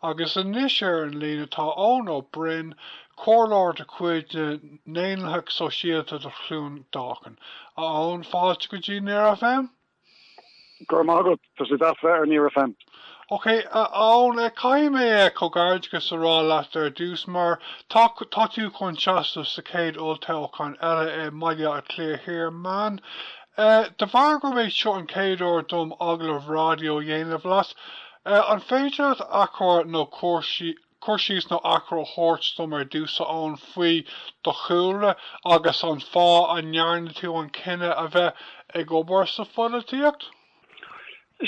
agus anois ar an líne tá Eoin Ó Broin, comhairleoir de chuid na nDaonlathach Sóisialta do Chluain Dolcáin. A Eoin, fáilte go dtí Near FM. Go raibh maith agat, tá sé deas bheith ar Near FM. Ok, a Eoin, caithfidh mé comhghairdeachas a rá leat ar dtús mar tá tú chun seasamh sa chéad olltoghchán eile i mBaile Átha Cliath Thiar, Meán E, De bharr gurb é seo an chéad uair dom agallamh ráidió a dhéanamh leat, e, an féidir leat achoimre nó cur, cur síos nó achoimre a thabhairt dom ar dtús, a Eoin, faoi do chúlra agus an fáth a ndearna tú an cinneadh a bheith ag obair sa pholaitíocht?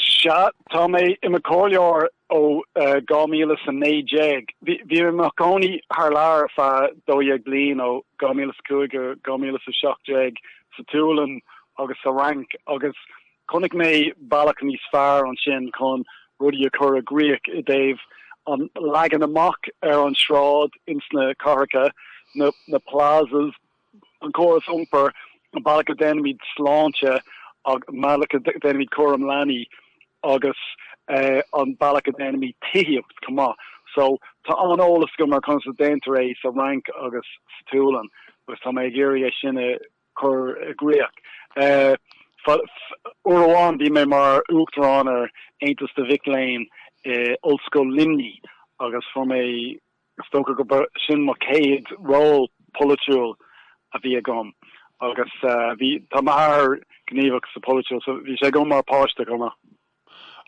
Sea, tá mé i mo chomhairleoir ó 2019. Bhí mé i mo chónaí thar lear ar feadh 12 bliain, ó 2005 go 2017, sa tSualainn agus sa Fhrainc agus chonaic mé bealach níos fearr ansin chun rudaí a chur i gcrích i dtaobh an leagan amach ar an sráid, insna cathracha, na plazas, an córas iompair, an bealach a dhéanaimid sláinte, an bealach a dhéanaimid cúram leanaí agus an bealach a dhéanaimid tithíocht chomh maith. So, tá an-eolas agam ar conas a dhéantar é sa Fhrainc agus sa tSualainn agus tá mé ag iarraidh é sin a chur i gcrích. Uair amháin bhí mé mar Uachtarán ar Aontas na Mac Léinn i Ollscoil Luimnigh agus fuair mé Is dócha gurb é sin mo chéad ról polaitiúil a bhí agam agus bhí, tá m'athair gníomhach sa pholaitiúil, so bhí sé agam mar pháiste chomh maith.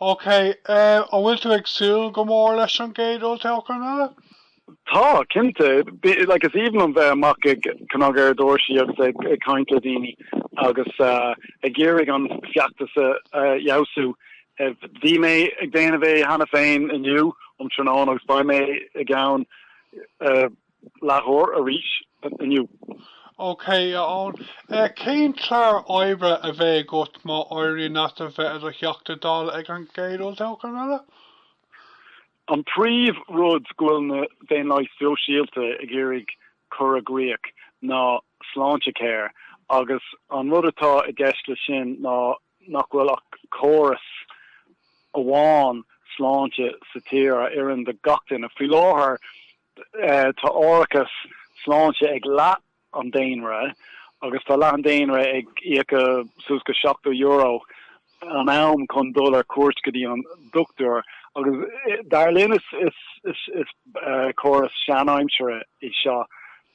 Ok, an bhfuil tú ag súil go mór leis an gcéad olltoghchán eile? Tá, cinnte. Like, is aoibhinn liom bheith amach ag cnagadh ar doirse agus ag caint le daoine agus ag iarraidh an feachtas a fheabhsú. Bhí mé ag déanamh é cheana féin inniu um tráthnóna agus beidh mé i gceann leathuair arís inniu. OK, a Eoin. Cén clár oibre a bheidh agat má éiríonn leat a bheith i do Theachta Dála ag an gcéad olltoghchán eile? An príomh rud go bhfuil na Daonlathaigh Sóisialta ag iarraidh cur i gcríoch ná Sláintecare agus an rud atá i gceist le sin ná nach bhfuil ach córas amháin sláinte sa tír a oireann do gach duine. Faoi láthair tá árachas sláinte ag leath an daonra agus tá leath an daonra ag íoc suas go €70 an am chun dul ar cuairt go dtí an dochtúir agus dar linn is córas seanaimseartha é seo.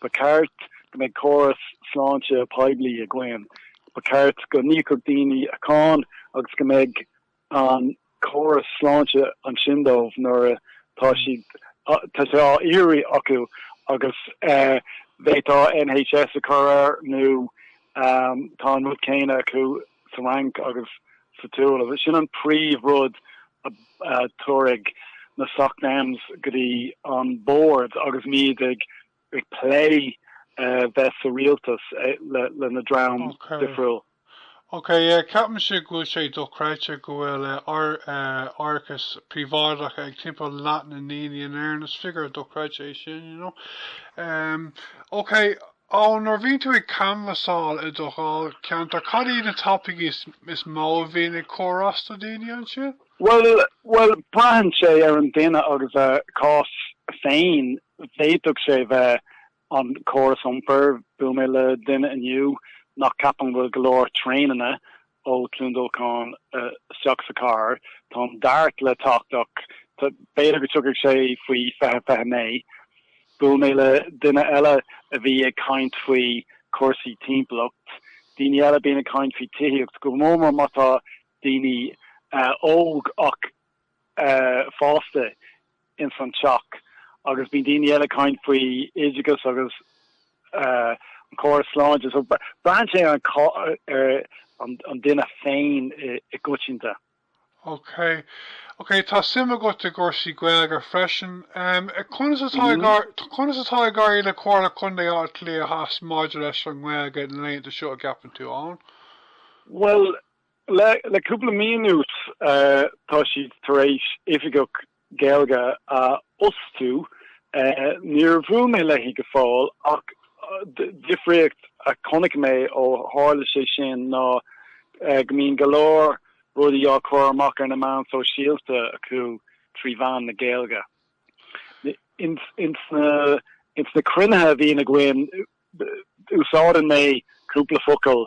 Ba cheart go mbeadh córas sláinte poiblí againn, ba cheart go n-íocfadh daoine a gcáin agus go mbeadh an córas sláinte ansin dóibh nuair atá siad tá sé á iarraidh acu agus b'fhéadfá NHS a chur air nó tá an rud céanna acu sa Fhrainc agus sa tSualainn. Sin an príomhrud a thabharfaidh na SocDems go dtí an bord agus muid ag plé bheith sa rialtas lena dream difriúil. Ok, ceapaimse go bhfuil sé dochreidte go bhfuil árachas príobháideach ag timpeall leath na ndaoine in Éirinn. Is figiúr dochreidte é sin, you know. Ok, Ok, nuair a bhíonn tú ag canbhasáil i do dháilcheantar, cad iad na topaicí is, is mó a bhíonn ag cur as do dhaoine ansin? Bhuel, bhuel, braitheann sé ar an duine agus a cás féin. D'fhéadfadh sé bheith an córas iompair, bhuail mé le duine inniu nach, ceapann go bhfuil go leor traeineanna ó Cluain Dolcáin isteach sa chathair. Tá an Dart le teacht ach b'fhéidir go dtiocfadh sé faoi fiche, fiche naoi. Bhuail mé le duine eile a bhí ag caint faoi chúrsaí timpeallacht. Daoine eile bíonn siad ag caint faoi tithíocht, go mór mór má tá daoine óg ach. fásta ins an teach agus bíonn daoine eile ag caint faoi oideachas agus an córas sláinte so braitheann sé ar an duine féin i gcoitinne. Ok, ok, tá suim agat i gcúrsaí Gaeilge freisin. Conas atá ag éirí le Comhairle Contae Átha Cliath Theas maidir leis an nGaeilge na laethanta seo a gceapann tú, Eoin? Bhuel, Le cúpla mí anuas tá siad tar éis Oifigeach Gaeilge a fhostú. Níor bhuail mé léi go fóill ach difríocht a chonaic mé ó tharla sé sin ná go mbíonn go leor rudaí á chur amach ar na meáin sóisialta acu trí mheán na Gaeilge. Ins na cruinnithe a bhíonn againn úsáideann mé cúpla focal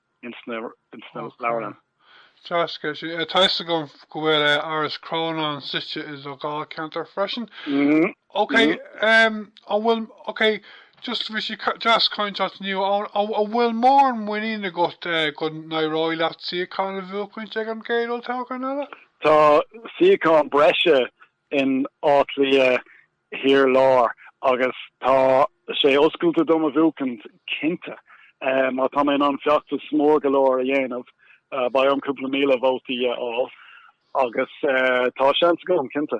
ins na leabharlann. Tá a fhios agam go bhfuil Áras Chrónáin suite i do dháilcheantar freisin. Ok, an bhfuil, ok, just, bhí sé deas caint leat inniu. An bhfuil mórán muinín agat go n-éireoidh leat suíochán a bhuachaint ag an gcéad olltoghchán eile? Tá suíochán breise in Áth Cliath thiar láir agus tá sé oscailte dom a bhuachtáil cinnte má tá mé in ann feachtas mór go leor a dhéanamh beidh orm cúpla míle vótaí a fháil agus tá seans agam cinnte.